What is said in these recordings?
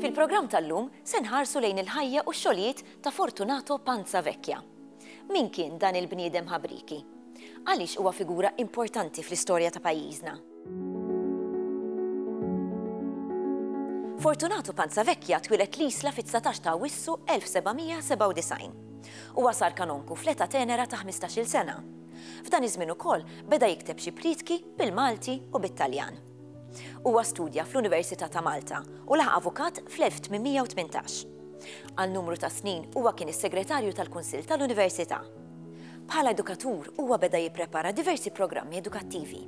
Fil-programm tal-lum se nħarsu lejn il-ħajja u x-xogħlijiet ta' Fortunato Panza Vecchia. Min kien dan il-bniedem ħabrieki? Għaliex huwa figura importanti fl-istorja ta' pajjiżna? Fortunato Panzavecchia twilet l-isla fit-19 ta' Wissu 1797. Huwa sar kanonku fl-età tenera ta' 15-il sena. F'dan iż-żmien ukoll beda jikteb xi prietki bil-Malti u bit-Taljan. Huwa studja fl-Università ta' Malta u laħaq avukat fl-1818. Għal numru ta' snin huwa kien is-segretarju tal-Kunsill tal-Università. Bħala edukatur huwa beda jipprepara diversi programmi edukattivi.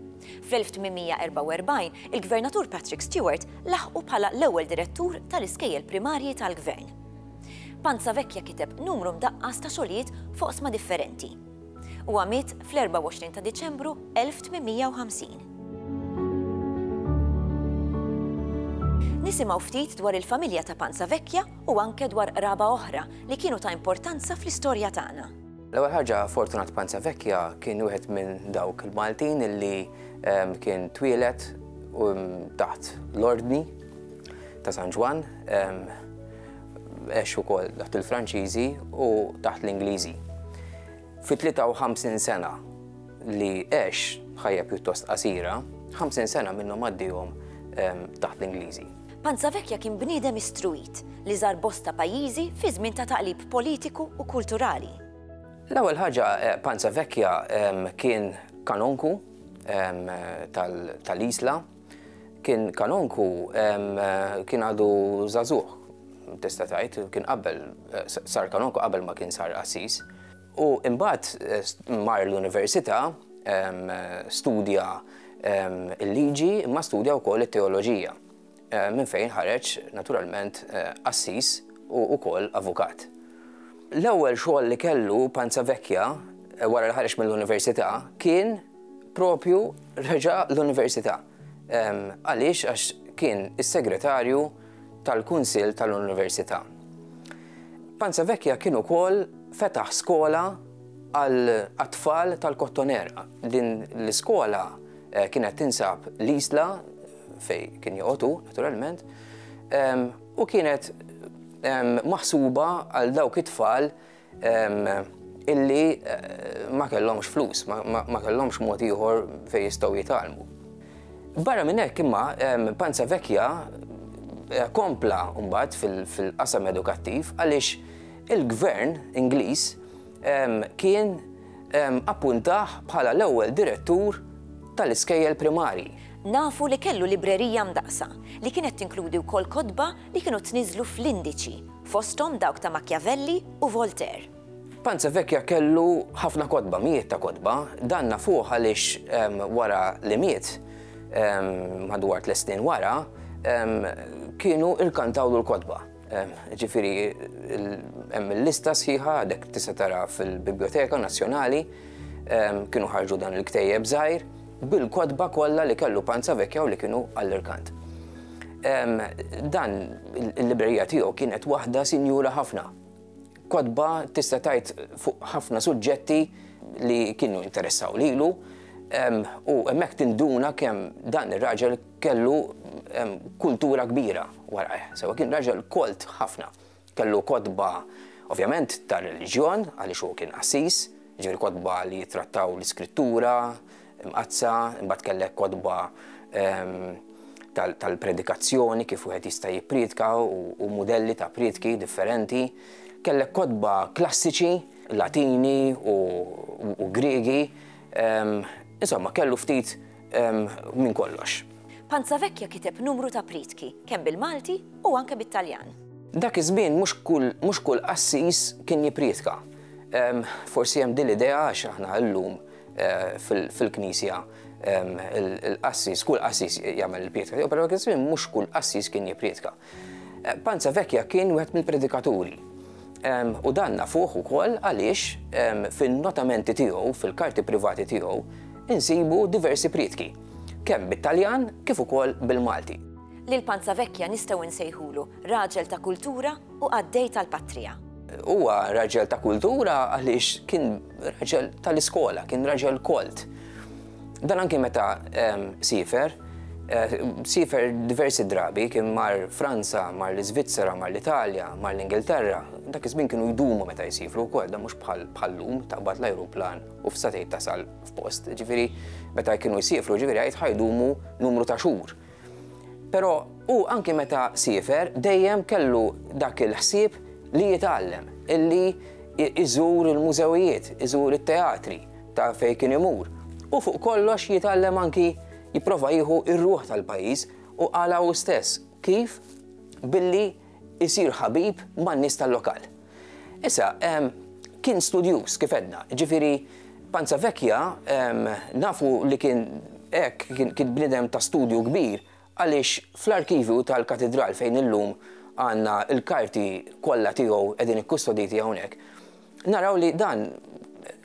Fl-1844 il-Gvernatur Patrick Stewart laħqu bħala l-ewwel direttur tal-iskejjel primarji tal-Gvern. Panza Vecchia kiteb numru mdaqqas ta' xogħlijiet f'oqsma differenti. Huwa miet fl-24 ta' Diċembru 1850. Nisimgħu ftit dwar il-familja ta' Panza Vecchia u anke dwar qraba oħra li kienu ta' importanza fl-istorja tagħna. L-ewwel ħaġa Fortunat Panza Vecchia kien wieħed minn dawk il-Maltin illi ehm, kien twieled um, taħt l-ordni ta' San Ġwan ehm, għex ukoll taħt il-Franċiżi u taħt l-Ingliżi. Fi 53 sena li għex ħajja pjuttost qasira, 50 sena minnhom għaddihom ehm, taħt l-Ingliżi. Panzavekja kien bniedem istruit li żar bosta pajjiżi fi żmien ta' taqlib politiku u kulturali. L-ewwel ħaġa eh, Panzavekja ehm, kien kanonku ehm, tal-Isla, Kien kanonku, kien għadu zazuħ, tista' tgħid, kien qabel sar kanonku qabel ma kien sar qassis. U imbagħad mar l-università, studja l-liġi, imma studja wkoll it-teoloġija, minn fejn ħareġ naturalment qassis u wkoll avukat. L-ewwel xogħol li kellu, panza vecchia, wara li ħareġ mill-università, kien Propju reġa' l-Università. Għaliex? Għax kien is-segretarju tal-Kunsill tal-Università. Panza Vecchia kien ukoll fetaħ skola għat-tfal tal-Kottoner. Din l-iskola eh, kienet tinsab l-isla fej kien joqotu, naturalment, u kienet maħsuba għal dawk it-tfal illi ma kellhomx flus, ma kellhomx mod ieħor fejn jistgħu jitgħallmu. Barra minn hekk imma Panza Vekja eh, kompla mbagħad fil-qasam edukattiv għaliex il-gvern Ingliż kien appuntaħ bħala l-ewwel direttur tal-iskejjel primari. Nafu li kellu librerija mdaqsa li kienet tinkludi wkoll kodba li kienu tniżlu fl-indiċi fosthom dawk ta' Machiavelli u Voltaire. Panza Vecchia kellu ħafna kotba, mijiet ta' kotba. Dan nafuh għaliex wara li miet, madwar tliet snin wara, kienu rkantawlu l-kotba. Ġifieri hemm il-lista sħiħa għadek tista' tara fil-Bibljoteka Nazzjonali, kienu ħarġu dan il-ktejjeb żgħir. bil-kotba kollha li kellu Panza Vekja u li kienu għall-irkant. Dan il-librerija tiegħu kienet waħda sinjura ħafna. Kotba tista' tajt fuq ħafna suġġetti li kienu interessaw lilu u hemmhekk tinduna kemm dan ir-raġel kellu kultura kbira warajh. Sewa kien raġel kolt ħafna. Kellu kotba, ovvjament, tar-reliġjon, għaliex hu kien qassis, jiġifieri kotba li jittrattaw l-Iskrittura Mqaddsa, imbagħad kellek kotba tal-predikazzjoni, kif wieħed jista' jippriedka u mudelli ta' priedki differenti. Kellek kotba klassiċi, Latini u Griegi, insomma kellu ftit minn kollox. Panzavecchia kiteb numru ta' prietki, kemm bil-Malti u anke bit-Taljan. Dak iż-żmien mhux kull qassis kien jipprietka. Forsi hemm din l-idea għax aħna llum fil-Knisja l-qassis, kull qassis jagħmel il-prietka tiegħu, però dak iż-żmien mhux kull qassis kien jipprietka. Panza Vecchia kien wieħed mill-predikaturi, u dan nafuh ukoll għaliex fin-notamenti tiegħu, fil-karti privati tiegħu, insibu diversi prietki, kemm bit-Taljan kif ukoll bil-Malti. Lil Panza Vecchia nistgħu nsejħulu raġel ta' kultura u qaddej tal-patrija. Huwa raġel ta' kultura għaliex kien raġel tal-iskola, kien raġel kolt. Dan anki meta ehm, sifer, eh, sifer diversi drabi kien mar Franza, mar l-Iżvizzera, mar l-Italja, mar l-Ingilterra, dak iż-żmien kienu jdumu meta jsifru wkoll dan mhux bħal bħallum taqbad l-ajruplan u f'satejt tasal f'post. Ġifieri meta kienu jsifru ġifieri għid ħajdumu numru ta' xhur. Però hu anki meta siefer dejjem kellu dak il-ħsieb li jitgħallem, li jżur il-mużewijiet, iżur it-teatri ta' fejn kien imur, u fuq kollox jitgħallem anki jipprova jieħu r-ruħ tal-pajjiż u qalha hu stess kif billi isir ħabib man-nies tal-lokal. Issa, kien studjuż, kif għedna, jiġifieri Panza Vecchia nafu li kien hekk, kien bniedem ta' studju kbir għaliex fl-arkivju tal-Katidral fejn illum għandna l-karti kollha tiegħu qegħdin ikkustoditi hawnhekk, Naraw li dan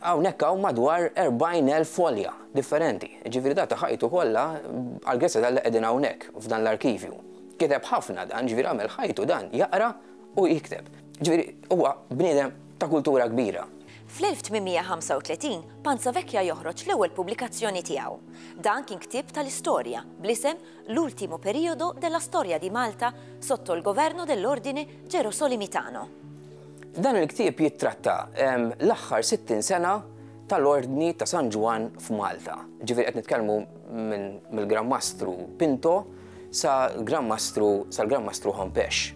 hawnhekk hawn madwar 40,000 folja differenti, jiġifieri ta' ħajtu kollha għall-Grezja tal-li qegħdin hawnhekk f'dan l-arkivju. Kiteb ħafna dan, jiġifieri għamel ħajtu dan jaqra u jikteb. Jiġifieri huwa bniedem ta' kultura kbira. Fl-1835 Panza Vecchia joħroġ l-ewwel pubblikazzjoni tiegħu. Dan kien ktieb tal-istorja bl-isem L'ultimo periodo della storia di Malta sotto il governo dell'ordine Gerosolimitano. Dan il-ktieb jittratta l-aħħar 60 sena tal-Ordni ta' San Ġwann f'Malta. Ġifieri qed nitkellmu mill-Gran Mastru Pinto sa Gran Mastru sal-Gran Mastru Hompex.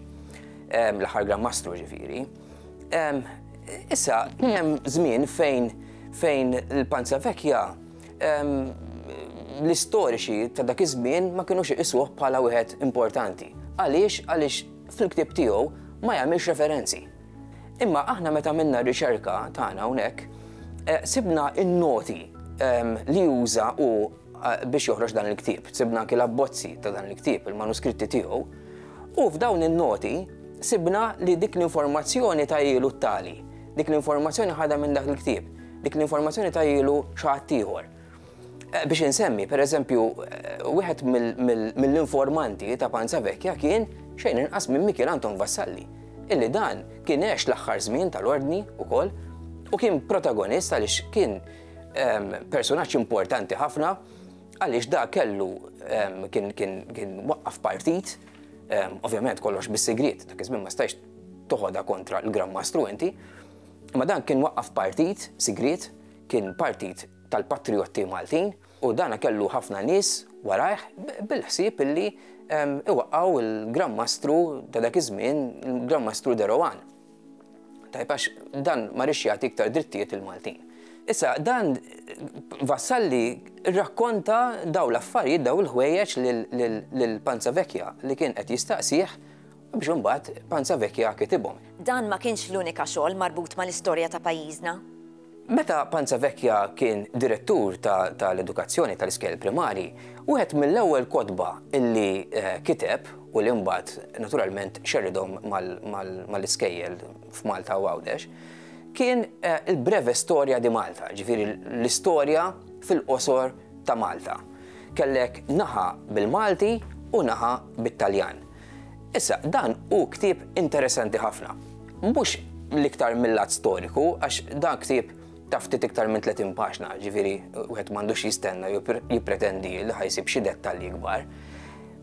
L-aħħar Gran Mastru ġifieri. Issa kien hemm żmien fejn fejn il-Panza Vekja l-istoriċi ta' dak iż-żmien ma kienux iqisuh bħala wieħed importanti. Għaliex? Għaliex fil-ktieb tiegħu ma jagħmilx referenzi. Imma aħna meta minna riċerka tagħna hawnhekk, eh, sibna in-noti ehm, li juża u eh, biex joħroġ dan il-ktieb, sibna anki l-abbozzi ta' dan il-ktieb, il-manuskritti tiegħu, u f'dawn in-noti sibna li dik l-informazzjoni ta' ilu tali, dik l-informazzjoni ħadha minn dak il-ktieb, dik l-informazzjoni ta' ilu xaħat ieħor. Biex insemmi, per eżempju, wieħed mill-informanti ta' Panza Vekja kien xejn inqas minn Mikiel Anton Vassalli, illi dan kien għex l-aħħar żmien tal-Ordni wkoll u kien protagonist għaliex kien ehm, personaġġ importanti ħafna għaliex da kellu ehm, kien waqqaf partit, ehm, ovvjament kollox bis-sigriet, dak iż-żmien ma stajx toħodha kontra l-Gran Mastru inti, ma dan kien waqqaf partit sigriet Kien partit tal-patrijotti Maltin u dan kellu ħafna nies warajh bil-ħsieb li jwaqqgħu l-Gran Mastru ta' dak iż-żmien, il-Gran Mastru de Rohan. Tajjeb għax dan ma riex jagħti iktar drittijiet lill-Maltin. Issa dan Vassalli rrakkonta dawn l-affarijiet, dawn il-ħwejjeġ lil Panza Vecchia li kien qed jistaqsih, biex imbagħad Panza Vecchia kitibhom. Dan ma kienx l-unika xogħol marbut mal-istorja ta' pajjiżna. Meta Panza Vecchia kien direttur tal-edukazzjoni tal-iskejjel primari, wieħed mill-ewwel kotba li kiteb u li mbagħad naturalment xerridhom mal-iskejjel f'Malta u Għawdex, kien il-Breve Storia di Malta, ġifieri l-istorja fil-qosor ta' Malta. Kellek naħa bil-Malti u naħa bit-Taljan. Issa, dan hu ktieb interessanti ħafna. Mhux l-iktar mill-lat storiku, għax dan ktieb ta' ftit iktar minn 30 paġna, ġifieri wieħed m'għandux jistenna jew jippretendi li ħajsib xi dettalji kbar.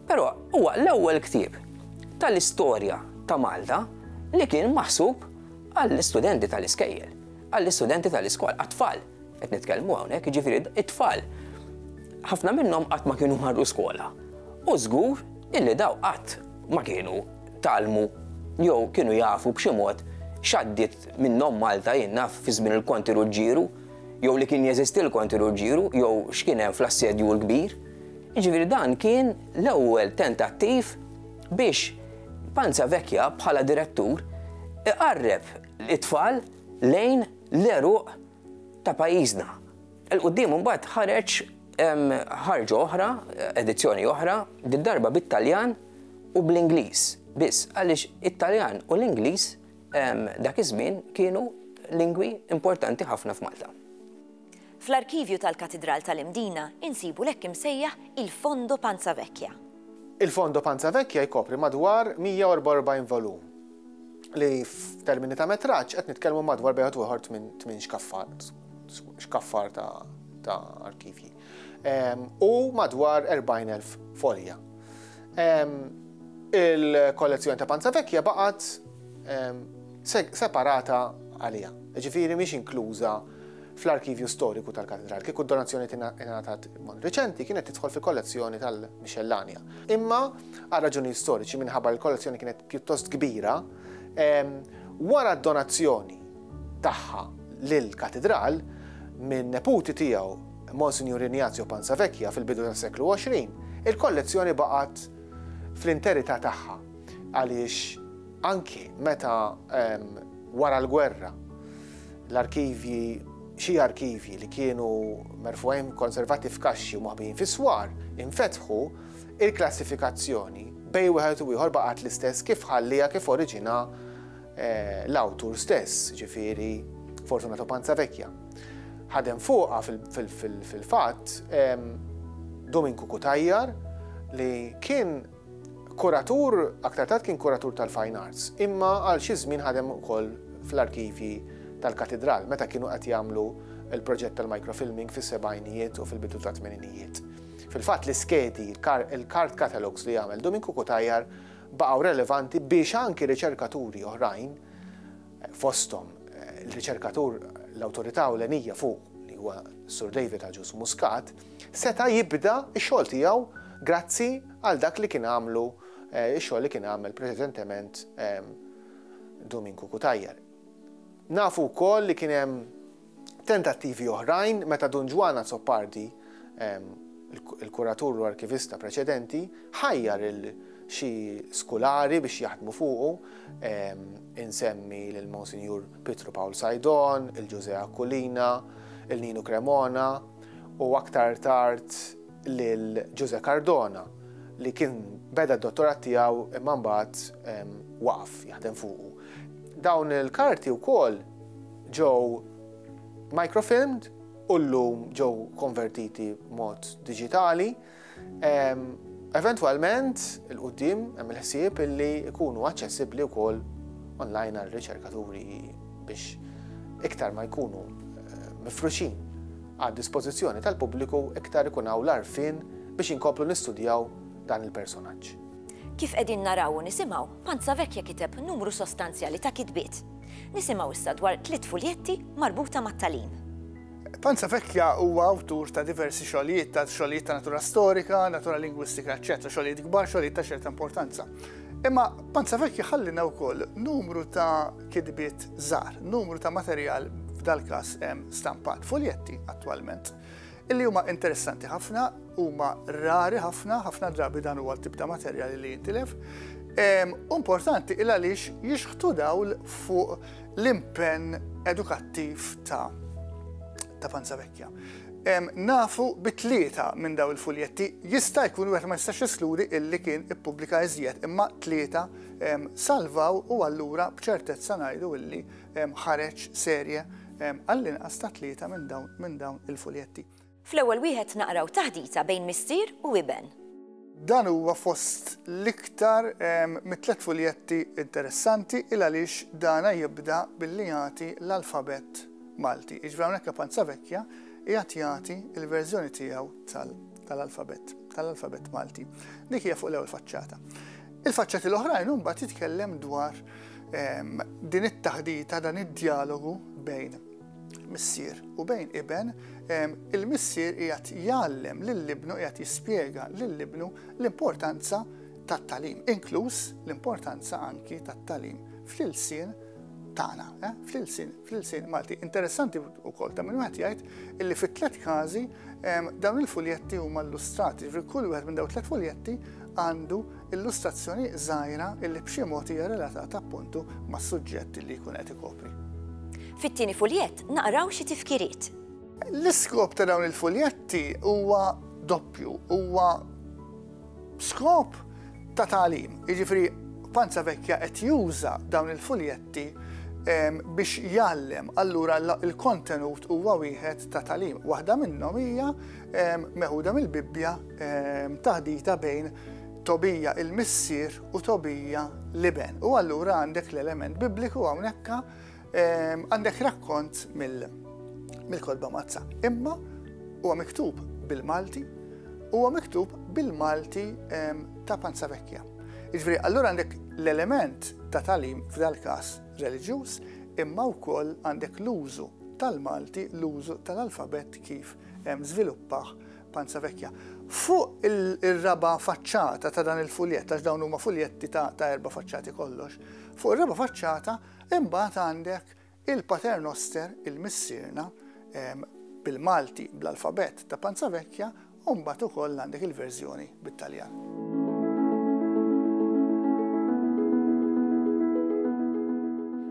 Però huwa l-ewwel ktieb tal-istorja ta' Malta li kien maħsub għall-istudenti tal-iskejjel, għall-istudenti tal-iskola, għat-tfal. Qed nitkellmu hawnhekk jiġifieri it-tfal ħafna minnhom qatt ma kienu marru skola. U żgur illi daw qatt ma kienu talmu jew kienu jafu b'xi mod x'għaddiet minnhom Malta jien naf fi żmien il-Konti Ruġġieru jew li kien jeżisti l-Konti Ruġġieru jew x'kien hemm fl-Assedju l-Kbir. Jiġifieri dan kien l-ewwel tentattiv biex Panza Vecchia bħala direttur iqarreb it-tfal lejn l-għeruq ta' pajjiżna. Il quddiem imbagħad ħareġ ħarġa oħra, edizzjoni oħra, did-darba bit-Taljan u bl-Ingliż biss, għaliex it-Taljan u l-Ingliż dak iż-żmien kienu lingwi importanti ħafna f'Malta. Fl-arkivju tal-Katidral tal-Imdina insibu l-hekk imsejjaħ il-Fondo Panza Vecchia. Il-Fondo Panza Vecchia jkopri madwar 144 volum li f'termini ta' metraġġ qed nitkellmu madwar bejħed ieħor tmien xkaffar, xkaffar ta' arkivji. U madwar 40,000 folja. Il-kollezzjoni ta' Panza Vekja baqgħet separata għalija. Ġifieri mhix inkluża fl-arkivju storiku tal-katedral, kieku d-donazzjoni tingħatat mod reċenti kienet tidħol fil-kollezzjoni tal-Mixellanja. Imma għal raġuni storiċi minħabba l-kollezzjoni kienet pjuttost kbira, wara d-donazzjoni tagħha lill-Katidral minn neputi tiegħu Monsinjur Ignazio Panzavecchia fil-bidu tas-seklu 20, il-kollezzjoni baqgħet fl-interità tagħha għaliex anki meta wara l-gwerra l-arkivji xi arkivji li kienu merfugħin konservati f'kaxxi u maħbijin fis-swar infetħu, Il-klassifikazzjoni bejn wieħed u ieħor baqgħet l-istess kif ħalliha kif oriġina l-awtur stess, ġifieri Fortunato Panzavecchia. Ħadem fuqha fil-fatt Dominku Kutajjar li kien kuratur, aktar tard kien kuratur tal-fine arts, imma għal xi żmien ħadem ukoll fl-arkivji tal-katedral meta kienu qed jagħmlu il-proġett tal-microfilming fis-sebgħinijiet u fil-bidu tat-tmeninijiet. Fil-fatt l-iskedi, il-card catalogues li għamel Domin Cukutajar baqgħu relevanti biex anki riċerkaturi oħrajn, fosthom l-riċerkatur l-awtorità ewlenija fuq li huwa Sur David Agius Muscat, seta' jibda x-xogħol tiegħu grazzi għal dak li kien għamlu, x-xogħol li kien għamel preċedentement Domin Cukutajar. Nafu wkoll li kien hemm Tentattivi oħrajn meta Dun Ġwann Azzopardi, il-kuratur u arkivista preċedenti, ħajjar lil xi skulari biex jaħdmu fuqu, insemmi lil Monsinjur Pietru Pawl Sajdon, il-Ġużè Aquilina, il-Ninu Cremona u aktar tard, lil Ġużè Cardona li kien beda d-dottorat tiegħu imma mbagħad waqaf jaħdem fuqu. Dawn il-karti wkoll ġew microfilmed u llum ġew konvertiti mod diġitali. Eventwalment, il-qoddim hemm il-ħsieb illi jkunu aċċessibbli wkoll online għal riċerkaturi biex iktar ma jkunu eh, mifruxin għad-dispożizzjoni tal-pubbliku iktar ikun hawn l-għarfien biex inkomplu nistudjaw dan il-personaġġ. Kif qegħdin naraw u nisimgħu, Panza Vecchia kiteb numru sostanzjali ta' kitbiet. Nisimgħu issa dwar tliet fuljetti marbuta mat-tagħlim. Panza Vecchia huwa awtur ta' diversi xogħlijiet, ta' xogħlijiet ta' natura storika, natura lingwistika, eċċetera, xogħlijiet kbar, xogħlijiet ta' ċerta importanza. Imma Panza Vecchia ħallina wkoll numru ta' kitbiet żgħar, numru ta' materjal f'dal-każ stampat, fuljetti attwalment, illi huma interessanti ħafna, huma rari ħafna, ħafna drabi dan huwa tibda materjali li jintilef. Importanti il għaliex jixħtu dawl fuq l-impenn edukattiv ta' ta' panza vekja. Nafu bit-tlieta minn daw il-fuljetti jista' jkun wieħed ma jistax jisluri illi kien ippubblika iżjed imma tlieta salvaw u allura b'ċertezza ngħidu illi ħareġ serje għall-inqas ta' tlieta minn dawn il-fuljetti. Fl-ewwel wieħed naqraw taħdita bejn missier u iben. Dan huwa fost l-iktar mit-tliet fuljetti interessanti il għaliex dana jibda billi jagħti l-alfabett Malti. Jiġifieri hawnhekk La Panza Vecchia qiegħed jagħti l-verżjoni tiegħu tal-alfabett tal-alfabett Malti. Dik hija fuq l-ewwel faċċata. Il-faċċati l-oħrajn imbagħad jitkellem dwar ehm, din it-taħdita dan id-dialogu bejn missier u bejn iben, il-missier qiegħed jgħallem lill-ibnu qiegħed jispjega lill-ibnu l-importanza tat-talim, inkluż l-importanza anki tat-talim fl-ilsien tagħna, eh, fl-ilsien fl-ilsien Malti. Interessanti wkoll ta' min wieħed jgħid illi fit-tliet każi dawn il-fuljetti huma illustrati, ġifieri kull wieħed minn dawn tliet fuljetti għandu illustrazzjoni żgħira illi b'xi mod hija relatata appuntu mas-suġġett li jkun qed ikopri. Fit-tieni fuljett naqraw xi tifkiriet. L-iskop ta' dawn il-fuljetti huwa doppju, huwa B'skop ta' tagħlim, jiġifieri Panza Vecchia qed juża dawn il-fuljetti biex jgħallem, allura l-kontenut huwa wieħed ta' tagħlim. Waħda minnhom hija meħuda mill-Bibbja taħdita bejn Tobija il-missier u Tobija l-iben. U allura għandek l-element bibliku hawnhekk Għandek rakkont mill-kodba mazza, imma huwa miktub bil-Malti, huwa miktub bil-Malti ta' panza vekja. Iġveri, allura għandek l-element ta' talim f'dal-kas reliġjuż, imma wkoll għandek l-użu tal-Malti, l-użu tal-alfabet kif żviluppaħ panza vekja. Fuq il-raba faċċata ta' dan il-fuljett, għax dawn huma fuljetti ta' erba faċċati kollox, fuq il-raba faċċata Imbagħad għandek il-Pater Noster, il-Missierna, bil-Malti, bl-alfabett ta' Panza Vecchia, u mbagħad ukoll għandek il-verżjoni bit-Taljan.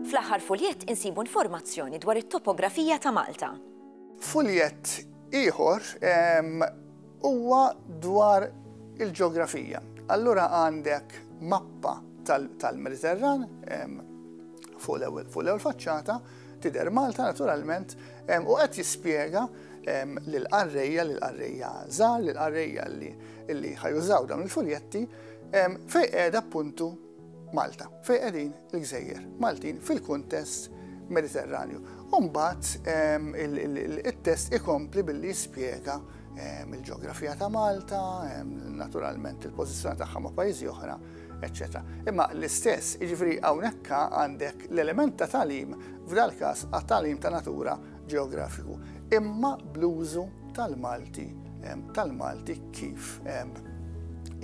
Fl-aħħar fuljett insibu informazzjoni dwar it-topografija ta' Malta. Fuljett ieħor Huwa dwar il-ġeografija. Allura għandek mappa tal-Mediterran fuq l-ewwel faċċata, tidher Malta naturalment, u qed jispjega lil qarrejja lil qarrejja żgħar, lil qarrejja li ħajużaw dawn il-fuljetti fejn qiegħda appuntu Malta. Fejn qegħdin il-gżejjer Maltin fil-kuntest Mediterranju. U mbagħad it-test ikompli billi jispjega il-ġeografija ta' Malta, naturalment il-pożizzjoni tagħha ma' pajjiżi oħra, eċċetera. Imma l-istess, jiġifieri hawnhekk għandek l-element ta' tagħlim f'dal-każ għat-tagħlim ta' natura ġeografiku, imma bl-użu tal-Malti, tal-Malti kif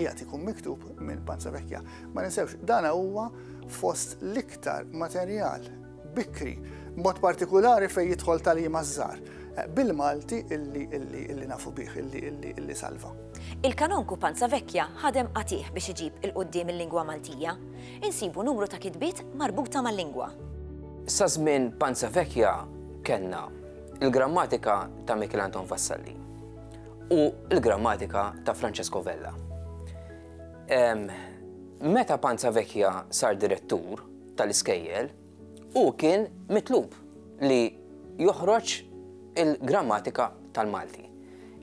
jgħat ikun miktub minn Panza Vekja. Ma ninsewx, dana huwa fost l-iktar materjal bikri, mod partikolari fej jidħol tal-jima zzar, eh, bil-Malti illi nafu bih, illi salva. Il-kanonku Panza Vekja ħadem qatiħ biex iġib il-qoddim il-lingwa Maltija. Insibu numru ta' kitbiet marbuta mal-lingwa. Sa żmien Panza Vecchia kellna l-grammatika ta' Michel Anton Vassalli u l-grammatika ta' Francesco Vella. Meta Panza Vecchia sar direttur tal-iskejjel, hu kien mitlub li joħroġ il-grammatika tal-Malti.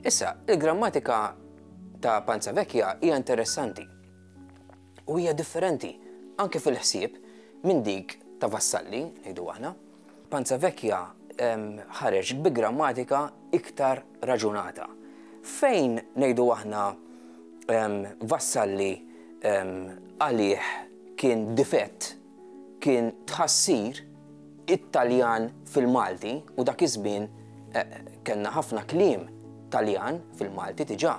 Issa, il-grammatika ta' Panza Vecchia hija interessanti. u hija differenti, anke fil-ħsieb, minn dik ta' Vassalli, ngħidu aħna. Panza Vecchia ħareġ bi grammatika iktar raġunata. Fejn, ngħidu aħna, Vassalli għalih kien difett kien tħassir it-Taljan fil-Malti u dak iż-żmien kellna ħafna kliem Taljan fil-Malti diġà.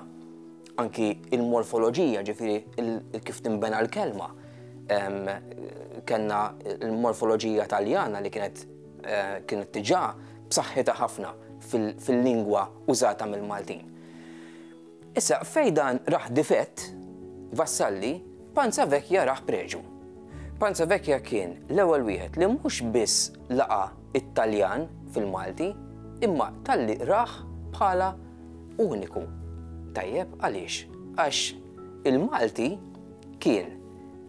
Anki l-morfoloġija, ġifieri kif tinbena l-kelma, kellna l-morfoloġija Taljana li kienet kienet diġà b'saħħitha ħafna fil-lingwa użata mill-Maltin. Issa, fejn dan rah difett, Vassalli, Panza Vecchia rah preġu. Panza Vecchia kien l-ewwel wieħed li mhux biss laqa' t-Taljan fil-Malti, imma talli rah bħala uniku. Tajjeb, għaliex? Għax il-Malti kien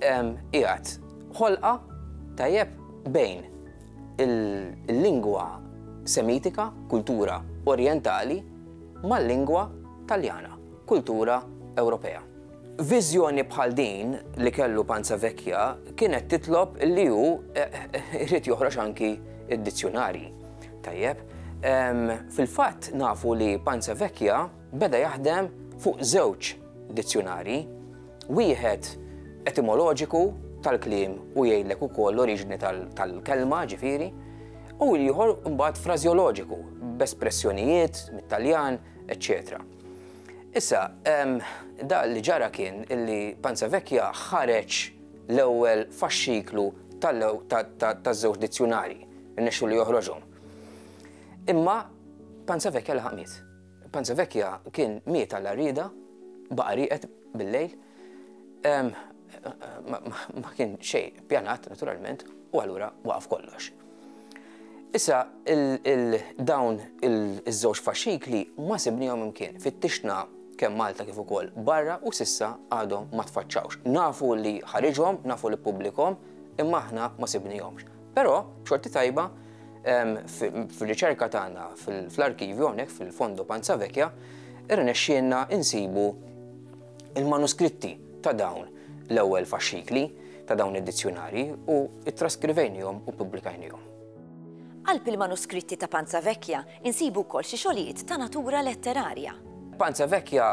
qiegħed ħolqa, tajjeb, bejn il-lingwa Semitika, kultura Orjentali, mal-lingwa Taljana, kultura Ewropea. Viżjoni bħal din li kellu Panzavecchia kienet titlob li hu jrid joħroġ anki d-dizzjunarji. Tajjeb, fil-fatt nafu li Panzavecchia beda jaħdem fuq żewġ dizzjunarji, wieħed etimoloġiku tal-kliem u jgħidlek ukoll l-oriġini tal-kelma, ġifieri, u l-ieħor mbagħad frażjoloġiku b'espressjonijiet mit-Taljan, eċċetera. Issa, da li ġara kien li Panza Vecchia ħareġ l-ewwel faxxiklu taż-żewġ dizzjunarji, irnexxu li joħroġhom. Imma Panza Vecchia laħaq miet. Panzavecchia kien miet għal għarrieda, baqa' rieqed bil-lejl. Ma kien xejn pjanat naturalment u allura waqaf kollox. Issa dawn iż-żewġ faxxikli ma sibniehom imkien. Fittixna kemm Malta kif ukoll barra u s'issa għadhom ma tfaċċawx. Nafu li ħariġhom, nafu li ppubblikahom, imma aħna ma sibnihomx. Però, xorti tajba, fil-riċerka tagħna fl-arkivju hawnhekk fil-Fondo Panza Vekja, irnexxielna insibu il-manuskritti ta' dawn l-ewwel faxxikli ta' dawn id-dizzjunari u ttraskrivejnihom u ppubblikajnihom. Qalb il-manuskritti ta' Panza Vekja Insibu wkoll xi xogħlijiet ta' natura letterarja. Panza Vecchia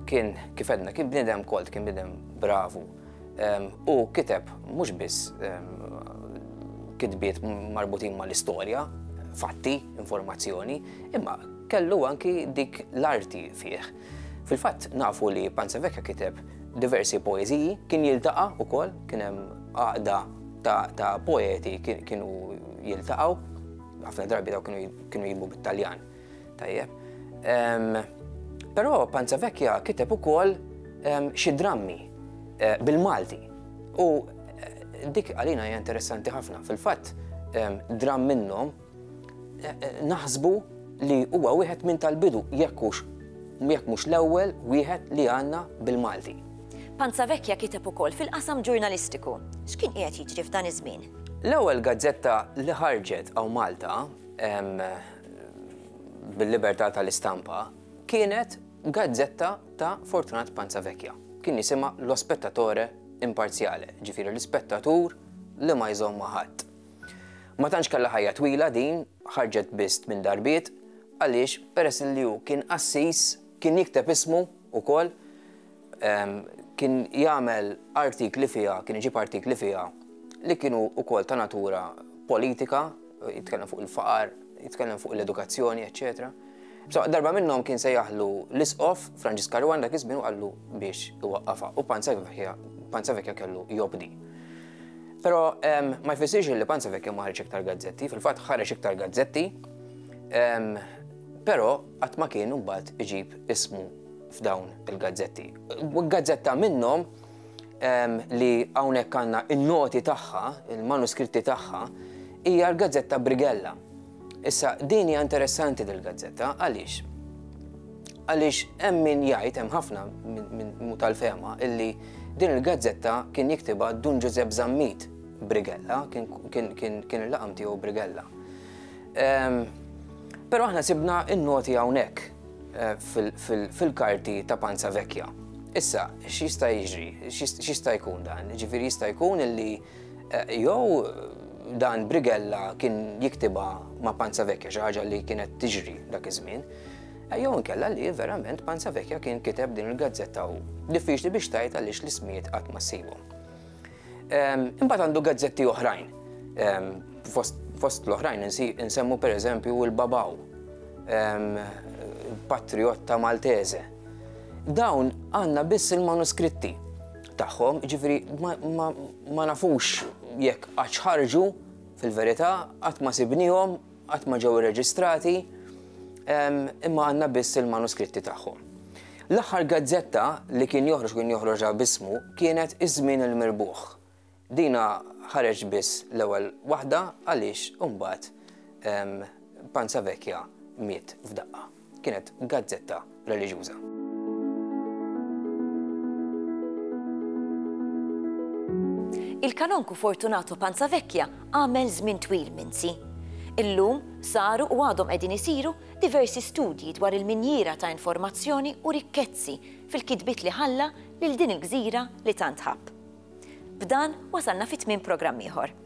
kien kif għedna kien bniedem kolt, kien bniedem bravu u kiteb mhux biss kitbiet marbutin mal-istorja, fatti, informazzjoni, imma kellu anki dik l-arti fih. Fil-fatt nafu li Panza Vecchia kiteb diversi poeziji, kien jiltaqa' ukoll, kien hemm għaqda ta' poeti kienu jiltaqgħu. Ħafna drabi daw kienu jimbu bit-Taljan. Tajjeb. Però Panza Vecchia kiteb ukoll xi drammi eh, bil-Malti. U eh, dik għalina hija interessanti ħafna. Fil-fatt, dramm minnhom eh, naħsbu li huwa wieħed minn tal-bidu jekk mhux l-ewwel wieħed li għandna bil-Malti. Panzavecchia kiteb ukoll fil-qasam ġurnalistiku. X'kien qiegħed jiġri f'dan iż-żmien? L-ewwel gazzetta li ħarġet hawn Malta bil-libertà tal-istampa kienet gazzetta ta' Fortunat Panzavecchia. Kien jisimha Lo Spettatore Imparziale, jiġifieri l-ispettatur li ma jżomm ma' ħadd. Ma tantx kellha ħajja twila din, ħarġet biss tmien darbiet, għaliex peress li hu kien qassis, kien jikteb ismu wkoll, kien jagħmel artikli fiha, kien iġib artikli fiha li kienu wkoll ta' natura politika, jitkellem fuq il-faqar, jitkellem fuq l-edukazzjoni, eċċetera. So, darba minnhom kien se jaħlu l-isqof Franġis Karwan dak iż-żmien u qallu biex iwaqqafha u Panza Vekja kellu jobdi. Però ma jfissirx li Panza Vekja ma ħareġ iktar gazzetti, fil-fatt ħareġ iktar gazzetti, però qatt ma kien imbagħad iġib ismu f'dawn il-gazzetti. Gazzetta minnhom li hawnhekk għandna in-noti tagħha, il-manuskritti tagħha, hija l-gazzetta Brigella. Issa din hija interessanti dil-gazzetta għaliex? Għaliex hemm min jgħid hemm ħafna minn tal-fema illi din il-gazzetta kien jiktibha Dun Ġużepp Zammit Brigella, kien il-laqam tiegħu Brigella. Però aħna sibna in-noti hawnhekk fil-karti ta' panza vekja. Issa, x'jista' jiġri? X'jista' jkun dan? Ġifieri jista' jkun li eh, jew dan Brigella kien jiktiba ma' panza vekja xi ħaġa li kienet tiġri dak iż-żmien. Eh, jew inkella li verament panza vekja kien kiteb din il-gazzetta u diffiċli biex tajt għaliex l-ismijiet qatt ma ssibhom. Imbagħad għandu gazzetti oħrajn. Fost l-oħrajn insemmu per eżempju il-Babaw, Patriotta Maltese. Dawn għanna biss il-manuskritti tagħhom, ġifri ma nafux jekk għax ħarġu fil-verità qatt ma sibnihom qatt ma ġew irreġistrati, imma għandna biss il-manuskritti tagħhom. L-aħħar gazzetta li kien joħroġ kien joħroġha bismu kienet Iż-Żmien il-Mirbuħ. Dina ħareġ biss l-ewwel waħda għaliex imbagħad Panza Vecchia miet f'daqqa. kienet gazzetta reliġjuża. Il-Kanonku Fortunato Panzavecchia għamel żmien twil minsi. Illum saru u għadhom qegħdin isiru diversi studji dwar il-minjiera ta' informazzjoni u rikkezzi fil-kitbiet li ħalla lil din il-gżira li tant ħabb. B'dan wasalna fi tmiem programm ieħor.